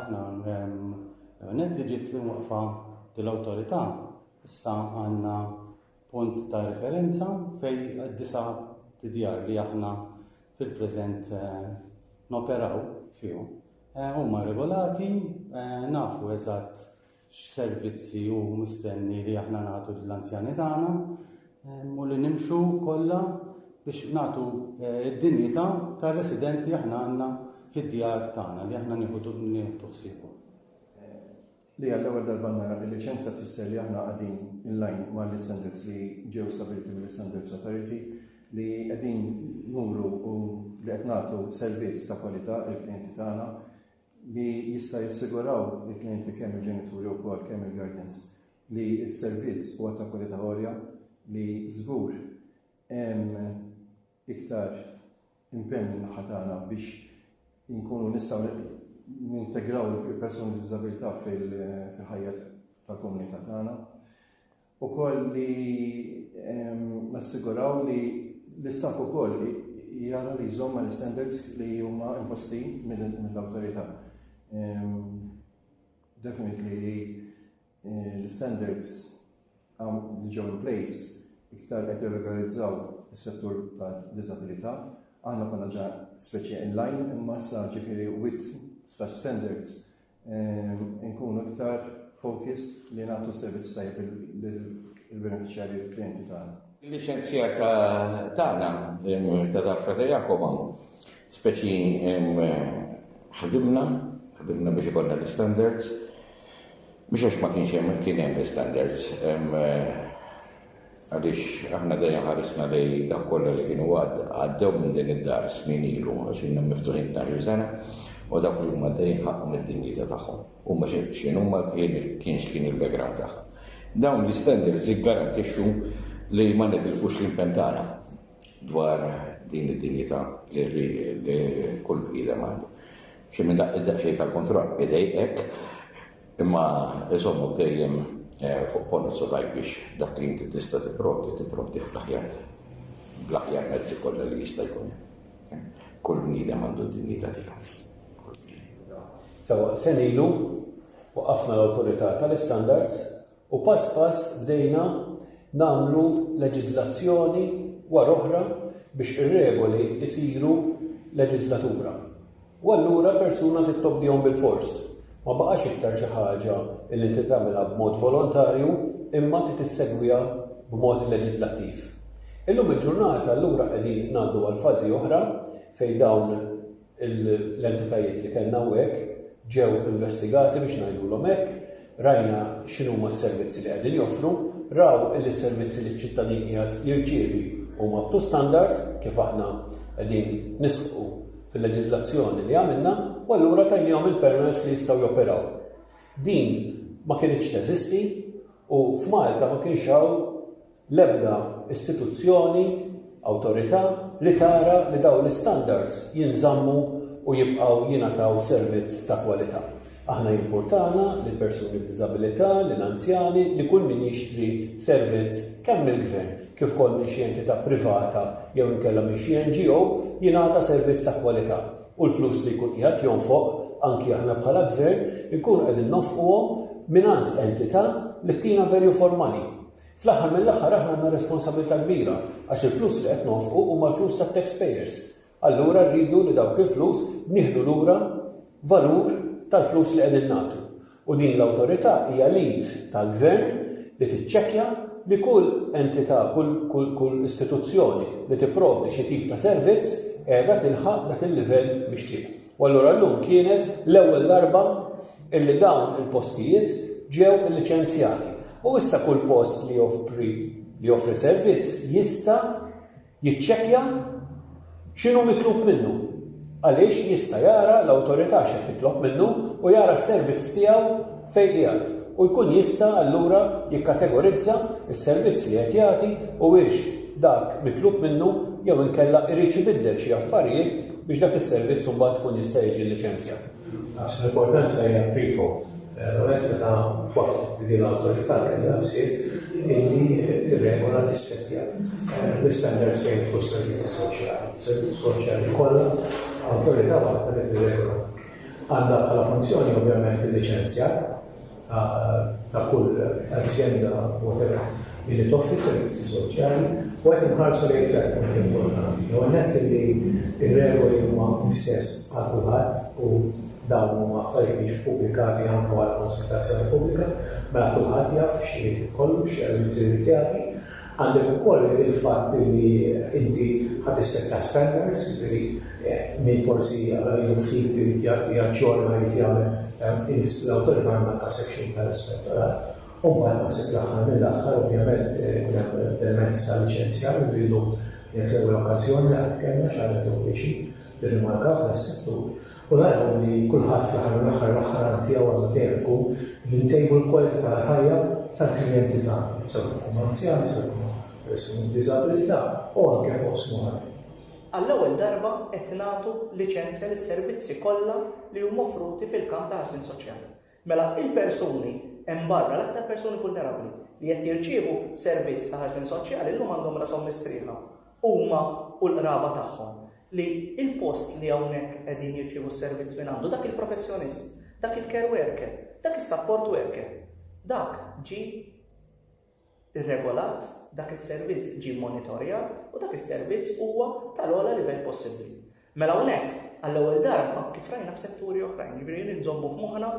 Aħna għanet li ġiet li waqfa dil-awtorità issa għandna punt ta' referenza fej disa tidjar li aħna fil-preżent eh, noperaw fihom. Eh, huma regolati, eh, nafu eżatt x'servizzi hu mistenni li aħna nagħtu lill-anzjani tagħna u li nimxu kollha biex nagħtu eh, d-dinjità tar-resident li aħna għandna fid-djar tagħna li aħna nieħu ħsiebu. Li għall-ewwel darba nara li liċenza tfisser li aħna qegħdin in line ma' l-istandards li ġew stabiliti mill-Standards Authority li qegħdin nuru u li qed nagħtu servizz ta' kwalità il-klijenti tagħna li jista' jassiguraw lill-klijenti kemm il-ġenituri wkoll kemm il-guardians li s-servizz huwa ta' kwalità għolja li żgur hemm iktar impenn min-naħa tagħna biex inkunu nistgħu nintegraw il-persuni b'diżabilità fil-ħajja tal-komunità tagħna. Ukoll li nassiguraw li l-istaff ukoll jara li jżomm ma' l-istandards li huma imposti mill-awtorità. Definitely li l-istandards li ġew in place iktar qed jirregolarizzaw is-settur tad-diżabilità. Aħna konna ġa speċi in line imma issa ġifieri with such standards nkunu iktar focused li nagħtu servizz tajb il-beneficjarji il-klienti tagħna. Il-liċenzja tagħna ta' darfa ta' Jakoba, speċi ħdimna, ħdimna biex ikonna l-standards, biex għax ma kienx hemm kien hemm l-standards. Għaliex aħna dejjem ħarisna lejn dawk kollha li kienu għaddew minn din id-dar snin ilu, għax ilna miftuħin tnax-il sena, u dawk li huma għaddejjin ħaqqhom id-dinjità tagħhom. Huma x'inhuma kien x'kien il-background tagħhom. Dawn l-istandards jiggarantixxu li ma nitilfux l-impenn tagħna dwar din id-dinjità li kull bniedem għandu. Xi minn daqqiet daqsxejn tal-kontroll idejqek, Imma iżommok dejjem fuq ponozzo tajb biex dak li inti tista' tipprovdi tipprovdih fl-aħjar bl-aħjar mezzi kollha li jista' jkun hemm. Kull bniedem għandu d-dinjità tiegħu. Sewwa senilu waqafna l-Awtorità tal-Istandards U pass pass bdejna nagħmlu leġiżlazzjoni wara oħra biex ir-regoli jsiru leġiżlatura. U allura persuna trid tobdihom bilfors. Ma baqax iktar xi ħaġa li inti tagħmilha b'mod volontarju imma trid issegwiha b'mod leġiżlattiv. Illum il-ġurnata allura qegħdin ngħaddu għal fażi oħra fejn dawn l-entitajiet li kellna hawnhekk ġew investigati biex ngħidulhom hekk, rajna x'inhuma s-servizzi li qegħdin joffru, raw illi s-servizzi li ċ-ċittadin qiegħed jirċievi huma up to standard kif aħna qegħdin nisħqu fil-leġiżlazzjoni li għamilna u allura tajniehom il-permess li jistgħu joperaw. Din ma kinitx teżisti u f'Malta ma kienx hawn l-ebda istituzzjoni, awtorità, li tara li dawn l-istandards jinżammu u jibqgħu jingħataw servizz ta' kwalità. Aħna jimpurtana li l-persuni b'diżabilità, li l-anzjani, li kull min jixtri servizz kemm mill-Gvern kif ukoll minn xi entità privata jew inkella minn xi NGO jingħata servizz ta' kwalità u l-flus li jkun qiegħed jonfoq, anki aħna bħala Gvern, inkunu qegħdin nonfquhom mingħand entità li ttina value for money. Fl-aħħar mill-aħħar aħna għandna responsabilità kbira għax il-flus li qed nonfqu huma l-flus tat-taxpayers. Allura rridu li dawk il-flus nieħdu lura valur tal-flus li qegħdin nagħtu. U din l-awtorità hija l-id tal-gvern li tiċċekkja li kull entità, kull, kull, kull istituzzjoni li tipprovdi xi tip ta' servizz qiegħda tilħaq dak il-livell mixtieq. U allura llum kienet l-ewwel darba illi dawn il-postijiet ġew illiċenzjati. U issa kull post li joffri li joffri servizz jista' jiċċekkja x'inhu mitlub minnu. Għaliex jista' jara l-awtorità x'qed titlob minnu u jara s-servizz tiegħu fejn qiegħed, u jkun jista' allura jikkategorizza s-servizz li qed jagħti u hiex dak mitlub minnu jew inkella iridx ibiddel xi affarijiet biex dak is-servizz imbagħad ikun jista' jiġi liċenzjat. Għax l-importanza hija threefold. L-ewwel nett meta twaffqet li din l-awtorità kellha l-ħsieb illi tirregola tissettja l-istandards fejn jidħlu s-servizzi soċjali. Servizzi soċjali kollha awtorità waħda li tirregola. Għandha bħala funzjoni ovvjament il-liċenzjar ta' kull azienda whatever li toffri servizzi soċjali u qed inħarsu lejn tliet punti importanti. L-ewwel nett li r-regoli huma l-istess għal kulħadd u dawn huma affarijiet li pubblikati anke wara konsultazzjoni pubblika, mela kulħadd jaf x'irid ikollu, x'jrid jagħti. Għandek ukoll il-fatt li inti ħa tissetta standards, jiġifieri min forsi ilu ftit irid jaġġorna, irid jagħmel, irid l-awtorità għandha daqshekk ta' l-ispettorat. U mbagħad naħseb l-aħħar mill-aħħar ovvjament ikun hemm l-element ta' liċenzjar li rridu, din hija l-ewwel okkażjoni li qatt kellna, xi ħaġa li tgħoddixi, tirrimarka f'dan is-settur. U naraw li kulħadd fl-aħħar mill-aħħar waħħal għan tiegħu għandu dehru li ntejbu l-kwalità tal-ħajja tal-klijenti tagħna, sakemm ikunu anzjani, sakemm ikunu persuni b'diżabilità u anke f'oqsma oħrajn. Għall-ewwel darba qed nagħtu liċenzja lis-servizzi kollha li huma offruti fil-kamp ta' ħarsien soċjali. Mela, il-persuni hemm barra, l-aktar persuni vulnerabbli, li qed jirċievu servizz ta' ħarsien soċjali llum għandhom rashom mistrieħa, huma u l-qraba tagħhom, li l-post li hawnhekk qegħdin jirċievu s-servizz minn għandu dak il-professjonist, dak il-care worker, dak is-support worker, dak ġie rregolat, dak is-servizz ġie mmonitorjat u dak is-servizz huwa tal-ogħla livell possibbli. Mela hawnhekk, għall-ewwel darba, kif rajna f'setturi oħrajn, jiġifieri li nżommu f'moħħna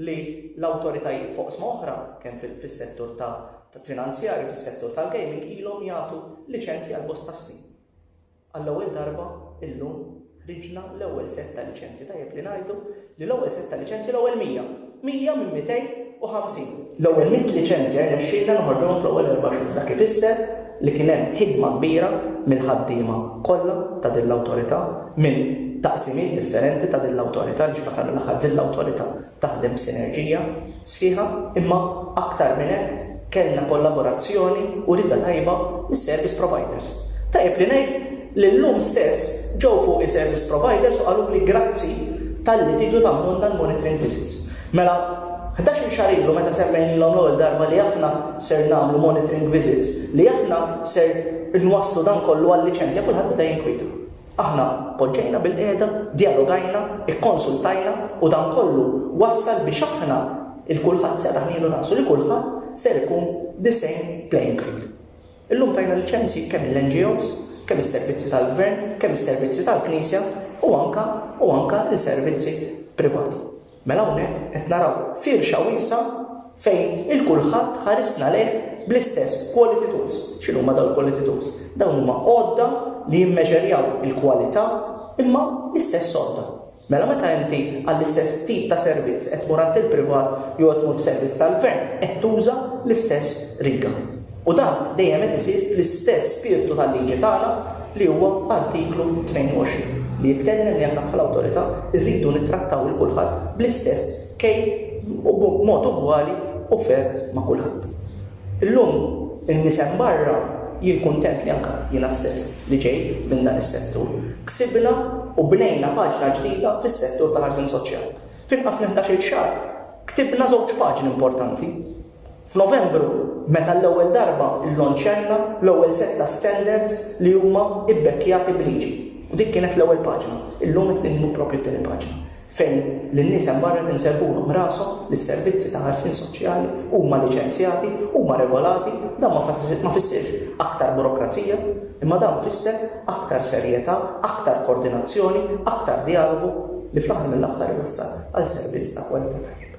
li l-awtoritajiet fuq sma oħra, kemm fis-settur ta' finanzjarju, fis-settur tal-gaming, ilhom jagħtu liċenzji għal bosta snin. Għall-ewwel darba illum ħriġna l-ewwel sett ta' liċenzji. Tajjeb li ngħidu li l-ewwel sett ta' liċenzji l-ewwel 100. 100 minn 250. L-ewwel 100 liċenzja rnexxielna noħorġuhom fl-ewwel erba' xhur. Dak ifisser li kien hemm ħidma kbira mill-ħaddiema kollha ta' din l-awtorità, minn taqsimiet differenti ta' din l-awtorità għaliex fl-aħħar mill-aħħar din l-awtorità taħdem b'sinerġija sħiħa imma aktar minn hekk kellna kollaborazzjoni u rieda tajba mis-service providers. Tajjeb li ngħid li llum stess ġew fuqi service providers u qaluli grazzi talli tiġu tagħmlulna l-monitoring visits. Mela, ħdax-il xahar ilu meta semmejnilhom l-ewwel darba li aħna ser nagħmlu monitoring visits, li aħna ser inwasslu dan kollu għal-liċenzja kulħadd beda jinkwieta. Aħna poġġejna bilqiegħda, djalogajna, ikkonsultajna u dan kollu wassal biex aħna, il-kulħadd setgħa ħnielu rasu li kulħadd ser ikun the same playing field. Illum tajna liċenzji kemm lill-NGOs, kemm is-servizzi tal-Gvern, kemm is-servizzi tal-Knisja u anke u anke li servizzi privati. Mela hawnhekk qed naraw firxa wiesgħa fejn il-kulħadd ħarisna lejh bl-istess quality tools. X'inhuma dawn il-quality tools? Dawn huma għodda li jimmeġerjaw il-kwalità imma l-istess għodda. Mela meta inti għall-istess tip ta' servizz qed tmur għand il-privat jew qed tmur f'servizz tal-gvern qed tuża l-istess riga. U dan dejjem qed isir fl-istess spirtu tal-liġi tagħna li huwa Artiklu 22, li jitkellem li aħna bħala awtorità rridu nittrattaw 'il kulħadd bl-istess kejl u b'mod ugwali u fair ma' kulħadd. Illum in-nies hemm barra, jien kuntent li anke jiena stess li ġej minn dan is-settur, ksibna u bnejna paġna ġdida fis-settur tal-ħarsien soċjali. F'inqas minn ħdax-il xahar ktibna żewġ paġni importanti. F'Novembru, meta għall-ewwel darba llonċjajna l-ewwel sett ta' standards li huma bbekkjati b'liġi, u dik kienet l-ewwel paġna, illum qed niktbu proprju t-tieni paġna, fejn lin-nies hemm barra qed inserrħulhom rashom li s-servizzi ta' ħarsien soċjali huma liċenzjati, huma regolati, dan ma fissirx aktar burokrazija, imma dan fisser aktar serjetà, aktar kordinazzjoni, aktar djalogu li fl-aħħar mill-aħħar iwassal għal servizz ta' kwalità tajjeb.